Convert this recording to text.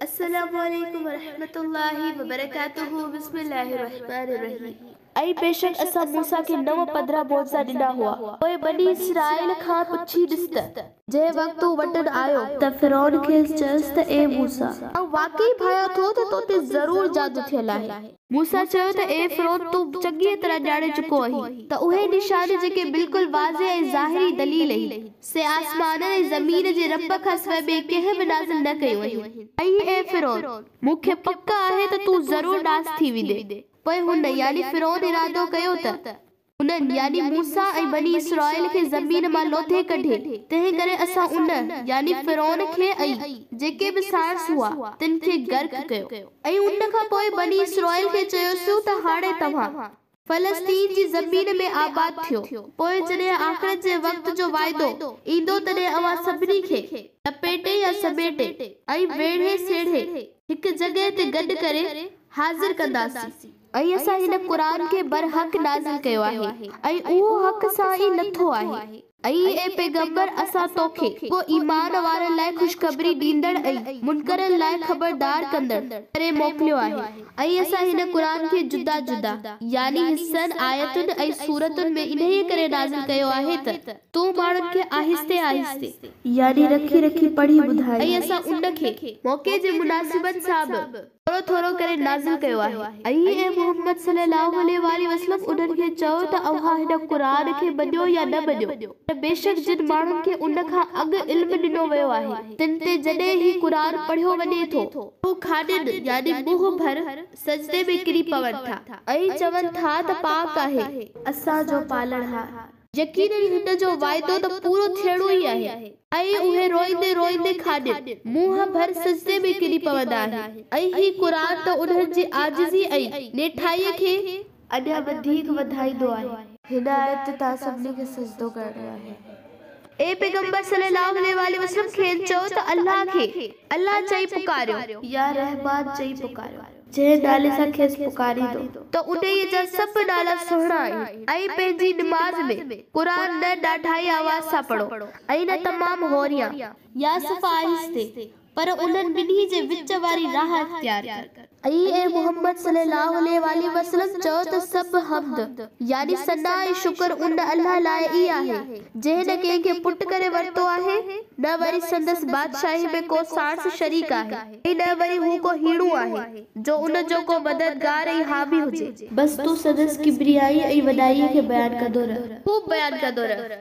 السلام عليڪم ورحمة الله وبرڪاته بسم الله الرحمٰن الرحيم ۽ بيشڪ اسان موسيٰ کي نو پڌرا معجزا ڏنا هئا پوء بني اسرائيل کان پڇي ڏس ته. جنهن وقت تون وٽن آيو. ته فرعون کيس چيس ته اي موسيٰ! آئون واقعي ڀانيان ٿو ته تو تي ضرور جادو ٿيل آهي. موسيٰ چيو ته اي فرعون تون چڱيء طرح ڄاڻي چڪو آهين ته اهي نشان جيڪي بلڪل واضح ۽ ظاهري دليل اهي سي آسمانن ۽ زمين جي رب کان سواء ٻئي ڪنهن به نازل نه ڪيون اهين. ۽ اي فرعون! مون کي پڪ آهي ته تون ضرور ناس ٿي ويندين. پوء هن، يعني فرعون، ارادو ڪيو ته. انهن، يعني موسيٰ ۽ بني اسرائيل کي زمين مان لوٿي ڪڍي، تنهن ڪري اسان ان، يعني فرعون کي ۽ جيڪي به ساڻس هئا، تن کي غرق ڪيو. ۽ ان کان پوء بني اسرائيل کي چيوسون ته هاڻي توهان، فلسطين جي زمين ۾ آباد ٿيو، پوء جڏهن آخرت جي وقت جو وعدو، ايندو تڏهن اوهان سڀني کي، لپيٽي يا سميٽي، ۽ ويڙهي سيڙهي، هڪ جڳهه تي گڏ ڪري، حاضر ڪنداسين. ۽ اسان هن قرآن کي برحق نازل ڪيو آهي، ۽ اهو حق سان ئي لٿو آهي. ۽ اي پيغمبر اسان توکي، پوء ايمان وارن لاء خوشخبري ڏيندڙ ۽ منڪرن لاء خبردار ڪندڙ، ڪري موڪليو آهي، ۽ اسان هن قرآن کي جدا جدا، يعني حصن، آيتن ۽ سورتن ۾ انهيء ڪري نازل ڪيو آهي ته، تون ماڻهن کي آهستي آهستي، يعني رکي رکي پڙهي ٻڌائين. ۽ اسان ان کي، موقعي جي مناسبت سان به. ٿورو ٿورو ڪري نازل ڪيو آهي. اي محمد صلي الله عليه واٰله وسلم انهن کي چئو ته اوهان هن قرآن کي مڃيو يا نه مڃيو پر بيشڪ جن ماڻهن کي ان کان اڳ علم ڏنو ويو آهي تن تي جڏهن هي قرآن پڙهيو وڃي ٿو ته هو کاڏين، يعني منهن ڀر، سجدي ۾ ڪري پون ٿا. ۽ چون ٿا ته پاڪ آهي. اسان جو پالڻهار. يقينن هن جو وعدو ته پورو ٿيڻو ئي آهي. ۽ اهي روئيندي روئيندي کاڏين منهن ڀر سجدي ۾ ڪري پوندا آهن ۽ هي قرآن ته انهن جي عاجزي ۽ نيٺائيء کي اڃا وڌيڪ وڌائيندو آهي. هن آيت تي توهان سڀني کي سجدو ڪرڻو آهي. اي پيغمبر صلّي اللّٰه عليه واٰله وسلّم کين چئو ته الله کي، الله چئي پڪاريو. يا رحمان چئي پڪاريو. جنهن نالي سان کيس پڪاريندو. ته انهيء جا سڀ نالا سهڻا آهن. ۽ پنهنجي نماز ۾، قرآن نه ڏاڍائي آواز سان پڙهو ۽ نه تمام هوريان، يا صفا آهستي، پر انهن ٻنهي جي وچ واري راهه اختيار ڪر. ۽ اي محمد صلّي اللّٰه عليه واٰله وسلّم چؤ ته سڀ حمد، يعني ثنا ۽ شڪر ان الله لاء ئي آهي، جنهن نه ڪنهن کي پٽ ڪري ورتو آهي، نه وري سندس بادشاهيء ۾ ڪو ساڻس شريڪ آهي. اي نه وري هو ڪو هيڻو آهي، جو ان جو ڪو مددگار ۽ حامي هجي. بس تون سندس ڪبريائي ۽ وڏائيء کي بيان ڪندو رهه. خوب بيان ڪندو رهه.